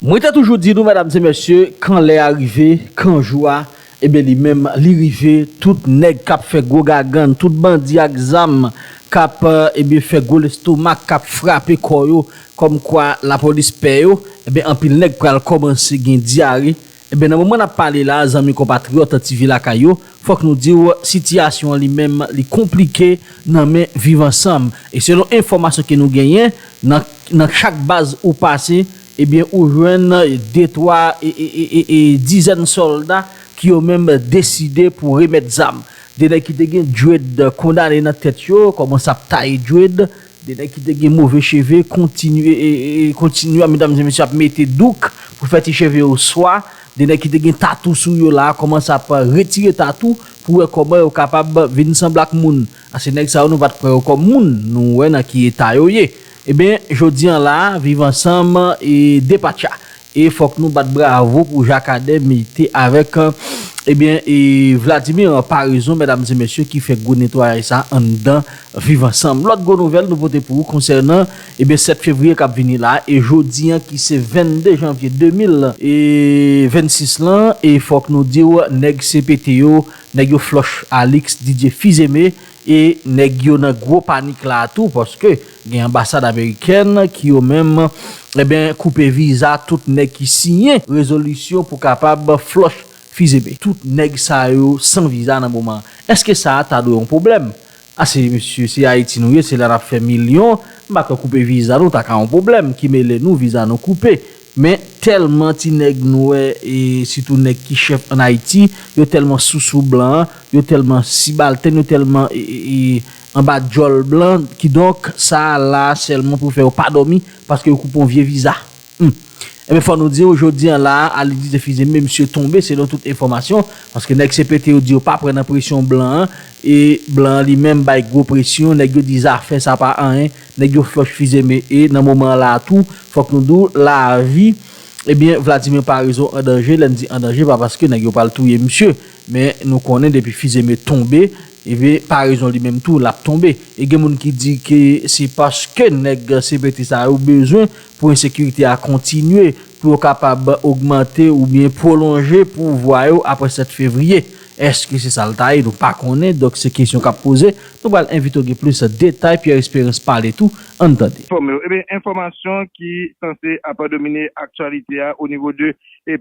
Mwen te toujou di nou medam se mesye kan lè a rive kan jou a eben li menm li rive tout nèg kap fè gwo gagann tout bandi ak zam kap eben fè gwo lestomak kap frape kò yo kòm kwa lapolis pè yo eben anpil nèg pral kòmanse gen dyare Enben nan moman nap pale la zanmi konpatriyòt TV lakay yo fòk nou diw sitiyasyon an li menm li konplike nan men viv ansanm e selon enfòmasyon ke nou genyen nan nan chak baz ou pase ebyen ou jwenn de twa e dizèn sòlda ki yo menm deside pou remèt zam de nèg ki te gen djwed kondane nan tèt yo kòmanse ap taye djwed De nèg ki te gen move cheve kontinye kontinye medam e mesye ap mete douk pou fè ti cheve yo swa, de nèg ki te gen tatou sou yo la kòmanse ap retire tatou pou wè kòman yo kapab vin sanble ak moun, ase nèg sa yo nou pat kwè yo kòm moun, nou wè nan ki eta yo ye. Eben jodi an la viv ansanm e depatcha. E fok nou bat bravo pou Jakadè mete avek ebyen e Vladimir an parezon medam e mesye ki fè gwo netwayaj sa anndan viv ansanm. Lot gwo nouvel nou pote pou ou konsènan ebyen 7 fevriye kap vini la e jodi an ki se 22 janvye 2000 e 26 lan e fok nou diw neg CPT yo neg yo floch Alix Didier Fizeme E nèg yo nan gwo panik la a tou paske gen anbasad amerikèn ki yo menm eben koupe viza tout nèg ki siyen rezolisyon pou kapab flòch fizeme. Tout nèg sa yo san viza nan moman an. Eske sa a ta dwe yon pwoblèm? A se mesye se Ayiti nou ye se la n ap fè milyon m pa kwè koupe viza nou ta ka yon pwoblèm ki mele nou viza nou koupe Men tèlman ti nèg nwè e sitou nèg ki chèf an Ayiti, yo tèlman sousou blan, yo tèlman sibaltèn, yo tèlman anba djòl blan, kidonk sa a la sèlman pou fè yo pa dòmi paske yo koupe yon vye viza. Hum! Enben fò nou di w, jodi an la a, Alidis Defize menm si yo tonbe selon tout enfòmasyon, paske nèg CPT yo di yo pa pran nan presyon blan an e blan an li menm bay gwo presyon, nèg yo di zafè sa pa anyen, Nèg yo flòch fize me e nan moman an la a tou fòk nou di w lavi ebyen Vladimir Paraison an danje lè n di an danje pa paske nèg yo pral touye misye men nou konnen depi fize me tonbe ebyen Paraison li menm tou l ap tonbe e gen moun ki di ke se paske nèg CPT sa yo bezwen pou ensekirite a kontinye pou yo kapab ogmante oubyen pwolonje pouvwa yo apre 7 fevriye. Eske se sa l ta ye? Nou pa konnen, donk se kesyon k ap poze. Nou pral envite w gen plis detay. Pierre Espérance pale tou, an n tande. Fòme yo. Ebyen enfòmasyon ki sanse ap domine aktyalite a onivo de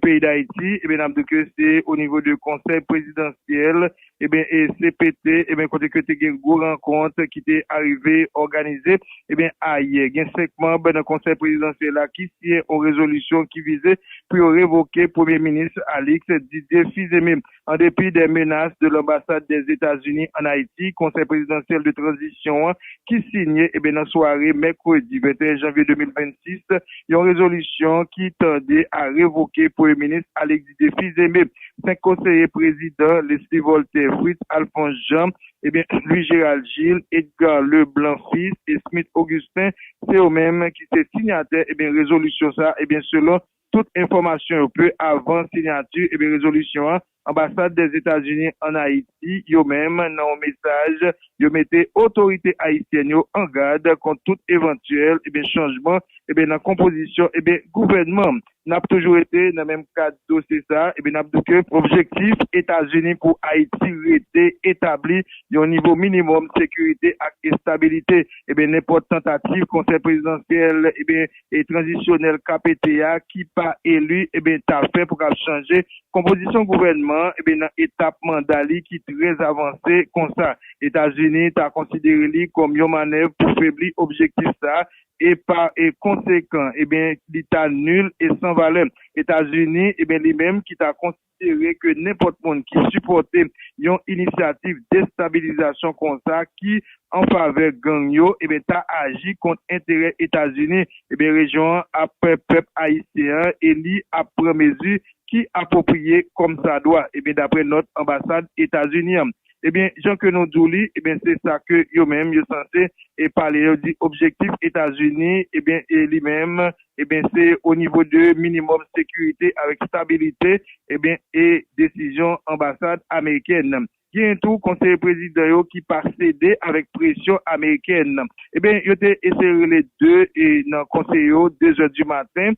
peyi Dayiti, ebyen n ap di w ke se onivo de konsèy prezidansyèl Ebyen e cpt ebyen kote ke te gen gwo rankont ki te arive òganize ebyen ayè gen 5 manb nan konsèy prezidansyèl la ki siyen on rezolisyon ki vize pou yo revoke premye minis Alix Didier Fils-Aimé an depi dè menas de lanbasad dè Etazini an Ayiti konsèy prezidansyèl de tranzisyon an ki siyen ebyen nan sware mèkredi 21 janvye 2026 yon rezolisyon ki tande a revoke premye minis Alix Di de Fils-Aimé, 5 konseye prezidan, Leslie Voltaire, Fritz Alphonse Jean, ebyen Louis Gérald Gilles, Edgar Le Blanc Fils et Smith Augustin, se yo menm ki se sinyatè ebyen rezolisyon sa ebyen selon tout enfòmasyon yo peu avan sinyati ebyen rezolisyon an anbasad dè Etazini an Ayiti yo menm nan yon mesaj yo mete otorite ayisyèn yo an gad kont tout evantyèl ebyen chanjman ebyen nan konpozisyon ebyen gouvènman N ap toujou rete nan menm kad dosye sa a epi n ap di w ke objektif Etazini pou Ayiti rete etabli yon nivo minimòm sekirite ak estabilite. Ebyen nenpòt tantativ konsèy prezidansyèl ebyen e tranzisyonèl KPT a ki pa eli ebyen ta fè pou kab chanje konpozisyon gouvènman an ebyen nan etap manda li ki trè avanse konsa. Etazini ta konsidere li kòm yon manèv pou febli objektif sa a e pa konsekan ebyen li ta nul e san valè. Etazini ebyen li menm ki ta konsidere ke nenpòt moun ki sipòte yon inisyativ destabilizasyon konsa ki an favè gang yo ebyen ta aji kont enterè Etazini ebyen rejyon an ap pèp ayisyen an e li ap pran mezi ki apwopriye kòmsadwa ebyen daprè nòt anbasad Etazini an. Ebyen jan ke nou di'w li ebyen se sa ke yo menm yo sanse e pale yo di objektif Etazini ebyen e li menm ebyen se o nivo de minimòm sekirite avèk stabilite ebyen e desizyon anbasad amerikèn. Genyen tou konseye prezidan yo ki pa sede avèk presyon amerikèn. Ebyen yo te eseye rele 2 e nan konseye yo 2 zè di maten.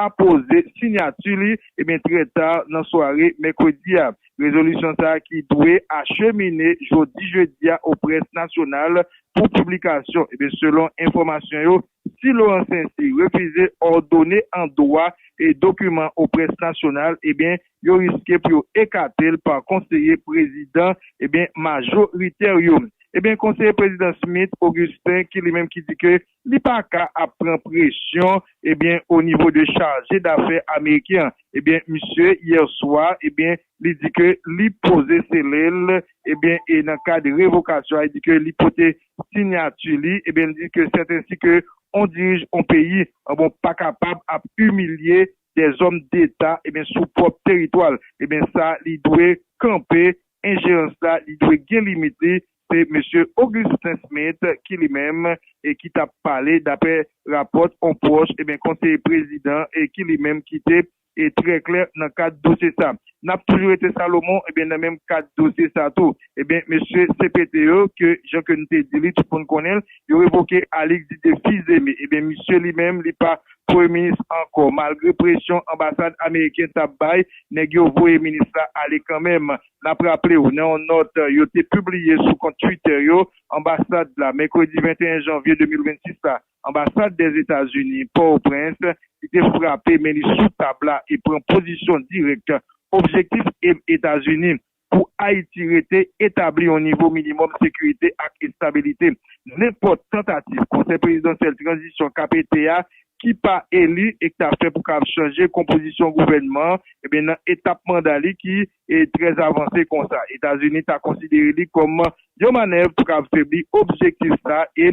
apoze sinyati li ebyen trè ta nan sware mèkredi a. Rezolisyon sa ki dwe achemine jodi jedi a o près nasyonal pou piblikasyon ebyen selon enfòmasyon yo si Laurent Saincy refize òdone an dwa e dokiman o près nasyonal ebyen yo riske pou yo ekate l pa konseye prezidan ebyen majoritè yo. Ebyen konseye prezidan Smith Augustin ki li menm ki di ke Li pa ka ap pran presyon ebyen o nivo de chaje dafè ameriken an ebyen misye yè swa ebyen li di ke li poze sele l ebyen e nan kad revokasyon a e di ke li pote sinyati li ebyen li di ke sètensi ke on dirij on peyi an bon pa kapab ap imilye dèzòm deta ebyen sou pwòp teritwa l ebyen sa li dwe kanpe Enjerans la li dwe gen limit li, se Mesye Augustin Smith ki li menm e ki tap pale daprè rapòt on pwòch e konseye prezidan e ki li menm ki te e trè klè nan kad dosye sa. Nap toujou rete Salomon e nan menm kad dosye sa tou e mesye CPT yo ke jan ke n te di li tout moun konnen l yo revoke Alix Didier Fils-Aimé e misye li menm li pa Premye minis ankò. Malgre presyon anbasad ameriken t ap bay, nèg yo voye minis la ale kanmenm. N ap raple w, nan yon nòt yo te pibliye sou kont Twitter yo, anbasad la, mèkredi 21 janvye 2026 la, anbasad Dèzetazini, Pòtoprens, li te frape men li sou tab la e pran pozisyon dirèk objektif Etazini. Pou Ayiti rete etabli yon nivo minimòm sekirite ak estabilite, nenpòt tantativ Konsèy Prezidansyèl Tranzisyon k ap ete a ki pa eli e k ta fè pou kab chanje konpozisyon gouvènman an nan etap manda li ki trè avanse konsa, Etazini ta konsidere li kòm yon manèv pou kab febli objektif sa e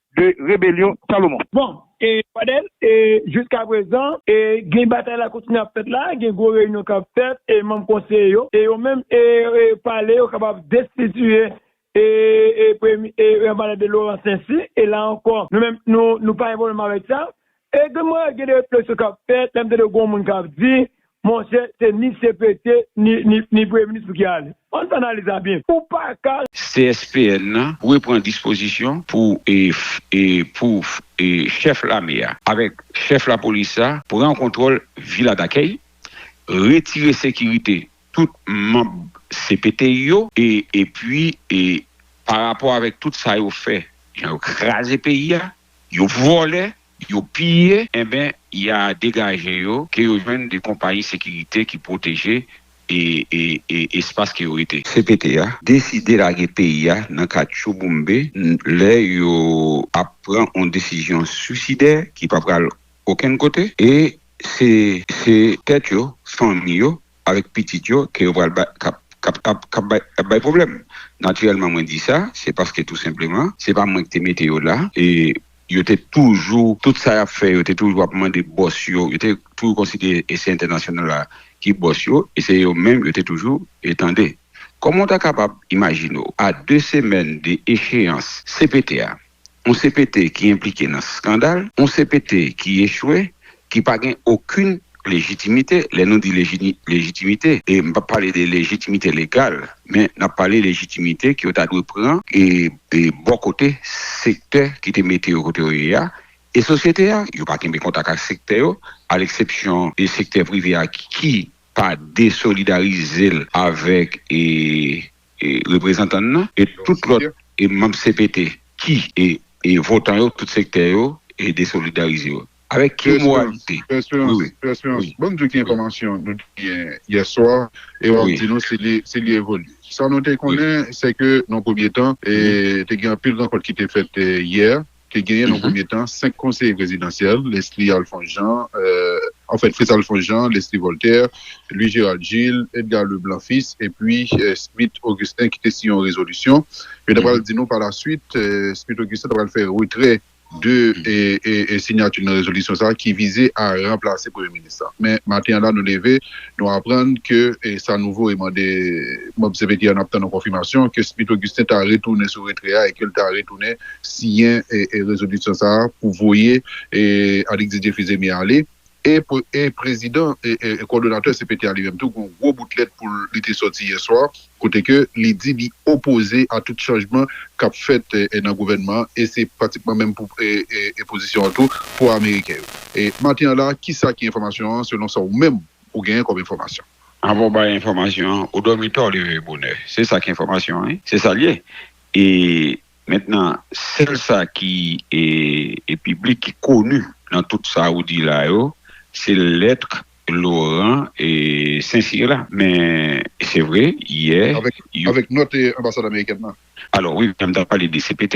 de rebelyon Salomon. Bon, e Pradel, e jiska prezan, e gen batay la kontinye ap fèt la, gen gwo reyinyon k ap fèt, e manm konseye yo, e yo menm, e pale, yo kapab destitiye, e, e premye, e Pradel de Laurent Saincy, e la ankò, nou menm, nou, nou pa gen pwoblèm avèk sa, Epi mwen gen de refleksyon k ap fèt lè m tande gon moun k ap di, monchè, se ni cpt ni Premye Minis pou ki ale. An n fè analiz la byen. Ou pa ka. CSPN nan dwe pran dispozisyon pou pou chèf lame a avèk chèf lapolis la pran kontwòl Vila Dakèy, retire sekirite tout manb cpt yo epi parapò avèk tout sa yo fè jan yo kraze peyi a. Yo vòlè, yo piye, enben ya degaje yo ke yo jwenn de konpayi sekirite ki pwoteje espas ke yo rete. Cpt a deside lage peyi a nan katchou boumbe lè yo ap pran on desizyon swisidè ki pa pral okenn kote e se tèt yo, fanmi yo avèk pitit yo ke yo pral bay kap kap ap kap bay ap bay pwoblèm. Natirèlman mwen di sa, se paske tou senpleman, se pa mwen ki te mete yo la e yo te toujou, tout sa y ap fè yo te toujou ap mande bòs yo, yo te toujou konsidere e se entènasyonal la ki bòs yo e se yo menm yo te toujou e tande. Kòman w ta kapab imajine w a 2 semèn de echeyans cpt a, yon cpt ki enplike nan skandal, yon cpt ki echwe, ki pa gen okin lejitimite, lè nou di lejitimite, e m p ap pale de lejitimite legal, men n ap pale lejitimite ke yo ta dwe pran e bò kote sektè ki te mete yo kote yo ye a, e sosyete a, yo pa kenbe kontak ak sektè yo, a leksepsyon de sektè prive a ki pa desolidarize l avèk. reprezantan n nan e tout lòt manm cpt ki e votan yo tout sektè yo e desolidarize yo avèk ki moralite Pè esperans pè esperans banm diw ki enfòmasyon nou te gen yè swa e wap di nou si li evolye sa nou te konnen se ke nan premye tan te gen anpil rankont ki te fèt yè te genyen nan premye tan 5 konseye prezidansyèl, Leslie Alphonse Jean, anfèt Fritz Alphonse Jean, Leslie Voltaire, Louis Gérald Gilles, Edgar Leblanc Fils epi Smith Augustin ki te siyen yon rezolisyon. Yo ta pral di nou palaswit Smith Augustin ta pral fè retrè de sinyati l nan rezolisyon sa ki vize a ranplase premye minis la. Men maten an la nou leve nou aprann ke sa nouvo e mande manb CPT a n ap tann yon konfimasyon ke Smith Augustin ta retounen sou retrè a e ke l ta retounen siyen rezolisyon sa a pou voye Alix Didier Fils-Aimé ale e prezidan kòdonatè cpt a li menm tou gen yon gwo bout lèt pou li te sòti yè swa kote ke li di li opoze a tout chanjman k ap fèt nan gouvènman an e se pratikman menm pou pozisyon an tou pou ameriken yo. Maten an la a ki sa ki enfòmasyon an selon sa ou menm ou genyen kòm enfòmasyon? Anvan w bay enfòmasyon an, ou dòmi tò ou leve bonè. Se sa ki enfòmasyon an wi. Se sa l ye e. Mentnan sèl sa ki e piblik ki konu nan tout sa ou di la yo se lettre Laurent e Saincyr la men se vre yè yo. Avèk nòt anbasad amerikèn nan. Alò wi, m ta pale de CPT.